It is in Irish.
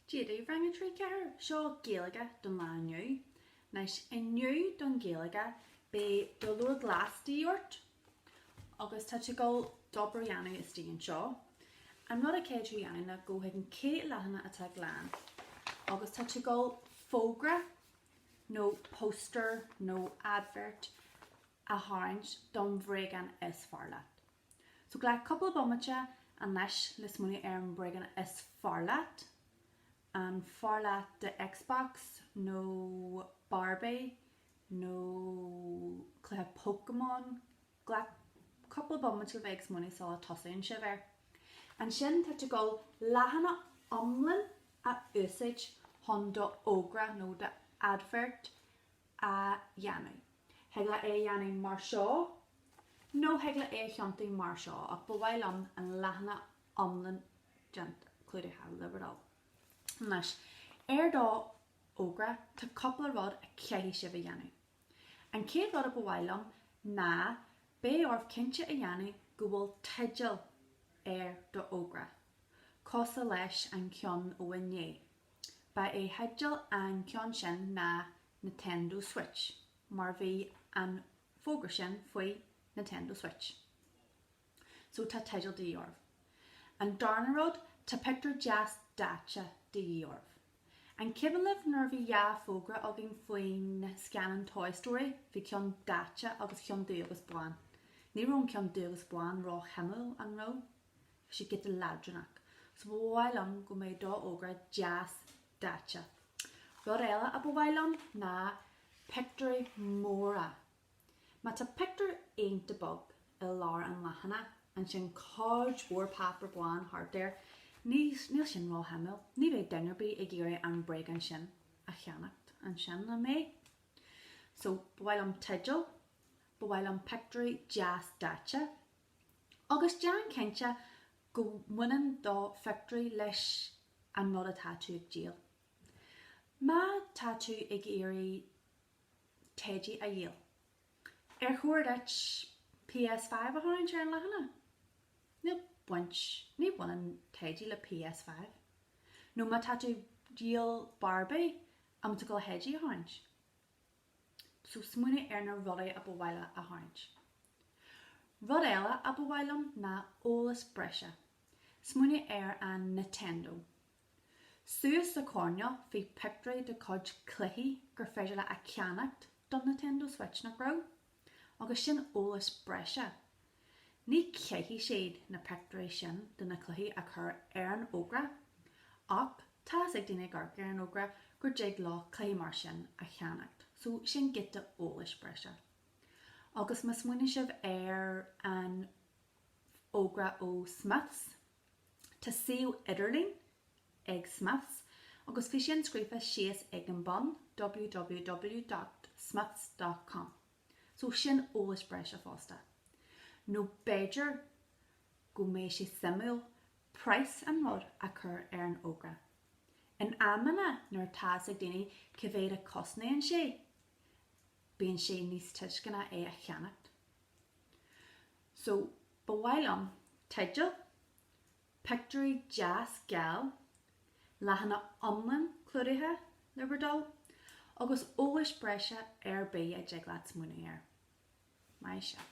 Cad é mar Rang 3 4 seo Gaeilge don lá inniu, Anois inniu don Ghaeilge beidh do leabhar glas de dhíth ort agus tá tú ag dul d'obair a dhéanamh istigh anseo. An rud a caithfidh tú a dhéanamh ná go chuig an chéad leathanach atá glan agus tá tú ag dul fógra nó poster nó advert a tharraingt don bhréagán is fearr leat. So glac cúpla bomaite anois le smaoineamh ar an bréagán is fearr leat. An fearr leat do Xbox nó Barbie nó cluiche Pokémon? Glac cúpla bomaite le bheith ag smaoineamh sula tosaíonn sibh air. Ansin tá tú ag dul leathanach iomlán a úsáid chun do fhógra nó do advert a dhéanamh. Thig leat é a dhéanamh mar seo nó thig leat é a thiontú mar seo ach ba mhaith liom an leathanach iomlán déanta, clúdaithe, le bhur dtoil. Anois, ar do fhógra, tá cúpla rud a chaithfidh sibh a dhéanamh. An chéad rud a ba mhaith liom ná beidh oraibh cinnte a dhéanamh go bhfuil teideal ar do fhógra, cosúil leis an cheann ó inné. Ba é theideal an ceann sin ná Nintendo Switch, mar bhí an fógra sin faoi Nintendo Switch. So tá teideal de dhíth oraibh. An darna rud, tá pictiúr deas daite de dhíth oraibh. An cuimhin libh nuair a bhí dhá fógra againn faoin scannán Toy Story, bhí ceann daite agus ceann dubh agus bán. Ní raibh an ceann dubh agus bán ró-shuimiúil, an raibh? Bhí sé giota leadránach, so ba mhaith liom go mbeadh do fhógra deas daite. Rud eile a ba mhaith liom ná pictiúirí móra. Má tá pictiúr ionta beag i lár an leathanach, ansin cuid mhór páipear bán thart air, níl, níl sin ró-shuimiúil. Ní bheidh duine ar bith ag iarraidh an bréagán sin a cheannacht ansin, an mbeidh? So, ba mhaith liom teideal, ba mhaith liom pictiúirí deas daite. agus déan cinnte go mbaineann do phictiúirí leis an rud atá tú ag díol. Má tá tú ag iarraidh teidí a dhíol, ar chóir duit PS5 a tharraingt ar an leathanach? Níl baint, ní bhaineann teidí le PS5. Nó má tá tú díol Barbie, an bhfuil tú ag dul theidí a tharraingt? so smaoinigh ar na rudaí a ba mhaith leat a tharraingt. Rud eile a ba mhaith liom ná eolas breise. Smaoinigh ar an Nintendo. Suas sa choirneál bhí pictiúirí de cuid cluichí gur féidir leat a cheannacht don Nintendo Switch, nach raibh? agus sin eolas breise. Ní chaithfidh siad na pictiúirí sin de na cluichí a chur ar an fhógra, ach tá's ag daoine ag amharc ar an fhógra gur dtig leat cluichí mar sin a cheannacht, so sin giota eolais breise. Agus má smaoineann sibh ar an fhógra ó Smiths, Tá suíomh idirlín ag Smiths agus bhí sin scríofa síos ag an bun, www.smiths.com, so sin eolas breise fosta. Nó b'fhéidir go mbeadh sé suimiúil praghas an rud a chur ar an fhógra. In amanna nuair atá 's ag daoine cé mhéad a chosnaíonn sé, bíonn sé níos tuisceana é a cheannacht. So, ba mhaith liom teideal, pictiúirí deas geala, leathanach iomlán clúdaithe le border, agus eolas breise ar bith a dtig leat smaoineamh air. Maith sibh.